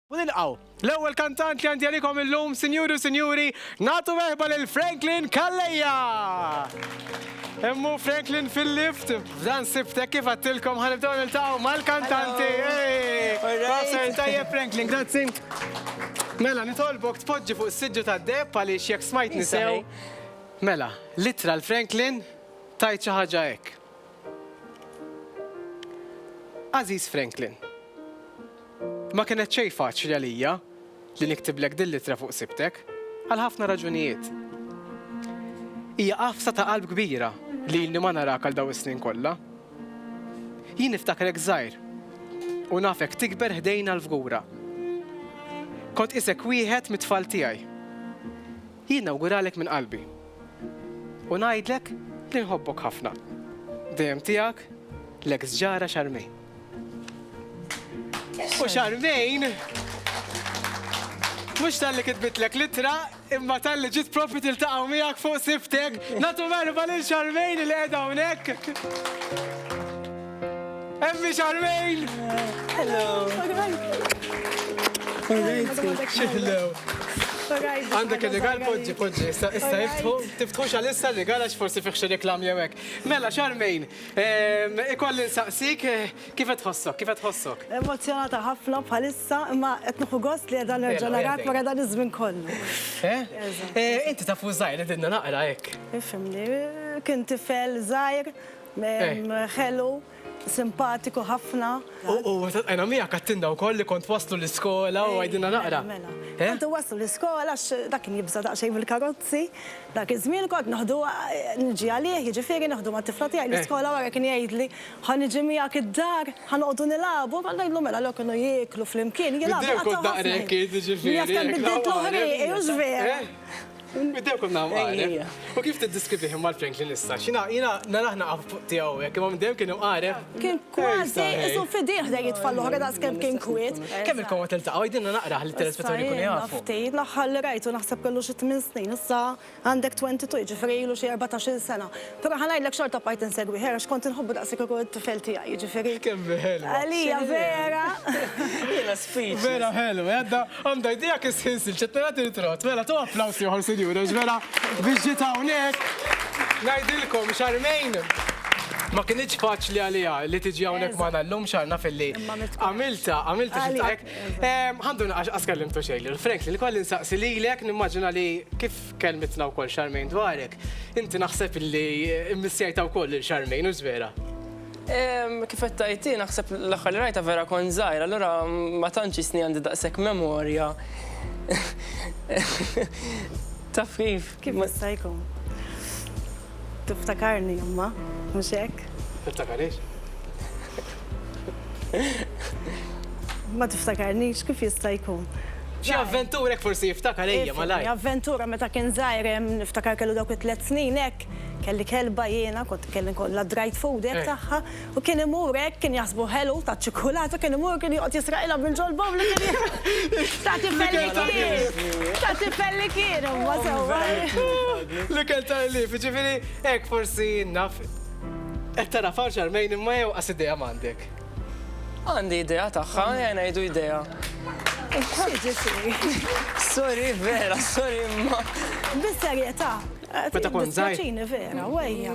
U nilqgħu l-ewwel kantant li għandi għalikom illum, sinjuri u sinjuri, nagħtu merħba lil Franklin Calleja! Hemm hu Franklin fil-lift, f'dan sibtek kif għattilkom ħanibdew niltaqgħu mal-kantanti. Proset, tajjeb Franklin, grazzi. Mela, nitolbok tpoġġi fuq is-siġġu tad-deheb għaliex jekk smajtni sew. Mela, l-ittra l-Franklin tgħid xi ħaġa hekk. Għażiż Franklin, Ma kienet xejn faċli għalija li niktiblek dil-littra fuq sibtek, għal ħafna raġunijiet. Hija għafsa ta' qalb kbira li ilni ma narak għal dawn is-snin kollha. Jien niftakrek żgħir u nafek tikber ħdejna l-fgura. Kont qisek wieħed mit-tfal tiegħi. Jien nawguralek minn qalbi u ngħidlek li nħobbok ħafna. Dejjem tiegħek, l-eks ġara Charmaine. U Charmaine mhux talli kitbitlek l-ittra imma talli ġiet propju tiltaqgħu miegħek fuq sibtek. Nagħtu merħba lil Charmaine li qiegħda hawnhekk. Emmi Charmaine! Hello! Għandek il-rigal, podġi, podġi, issa jiftħu, tiftħu xalissa l-rigal għax forsi fiħxu reklam jewek. Mela, xarmejn, ehm, ikolli nsaqsik, eh, kif tħossok, kif tħossok? Emozjonata ħafna bħalissa, imma etnuħu gost li għedan nerġa narak wara dan iż-żmien kollu. Eh? Eh, inti tafu zaħir li dinna naqra hekk. Ifimni, kien tifel zaħir, Ħelu, simpatiku ħafna. U għajna miegħek għattinna wkoll li kont waslu l-iskola u għajdinna naqra. Mela, kont waslu l-iskola għax dak kien jibża' daqsxejn mill-karozzi. Dak iż-żmien kont noħdu niġi għalih, jiġifieri noħdu mat-tifla tiegħi l-iskola wara kien jgħidli ħa niġi miegħek id-dar, ħa noqogħdu nilagħbu, kont ngħidlu mela allura kienu jieklu flimkien, jilagħbu. Bid-dejjem kont naqrek int, jiġifieri. Jaf kemm biddiltlu ħrieqi, hux veru? Bdew kun nam għaref. U kif t-diskrivi him mal Franklin issa? Xina, jina, naraħna għaf fuq tijaw, jek imma bdew kien għaref. Kien kważi, isu fidiħ da jitfallu ħra daqs kem kien kwit. Kem il-koma telta, għajdinna naqra għal telespettori kun jgħafu. Ftejt laħħal li rajtu naħseb kellu xi 8 snin, issa għandek 22, ġifri ilu xi 14 sena. Però ħa ngħidlek xorta bqajt insegwi Hera għax kont inħobbu daqs li kieku t-tifel tiegħi, jiġifieri. Kemm hi ħelwa. Għalija Vera. Jiena speechless. Vera ħelwa, għadha għandha idea kif se nsir, qed nara tirtrott. Mela tu applaws ieħor sinjura għax vera biex ġiet hawnhekk ngħidilkom Charmaine ma kinitx faċli għaliha li tiġi hawnhekk magħna llum x'għar naf illi għamiltha għamiltha xi trick. Ħa ndur naqax, qas kellimtu xejn lil Frank, lil Colin saqsi lilek nimmaġina li kif Kelmitna wkoll Charmaine dwarek. Inti naħseb li mmissjajta wkoll lil Charmaine u vera? Kif qed tajti naħseb l-aħħar li rajta vera kon żgħir, allura ma tantx isni għandi daqshekk memorja. Taf kif? Kif ma stajkom? Tiftakarni imma, mhux hekk? Tiftakarix? Ma tiftakarnix kif jista' jkun. Xi avventura hekk forsi jiftakar ejja malajr. Avventura meta kien żgħir niftakar kellu dawk it-tliet snin hekk, kelli kelba jiena, kont kelli nkollha dried food hekk tagħha, U kien imur hekk, kien jaħsbu ħelu ta' ċikkulata, kien imur kien joqgħod jisraqilha mill-ġolba u li kien ta' tifel li kien. Ta' tifel li kien imma sewwa. L-ikel ta' ħlief, jiġifieri hekk forsi naf qed tara f'hawn x'armejn imma jew qas idea m'għandek. Għandi idea tagħha, ejja ngħidu idea. Sorry vera, sorry imma. Bis-serjetà. Meta kont żgħir. Vera, u ejja.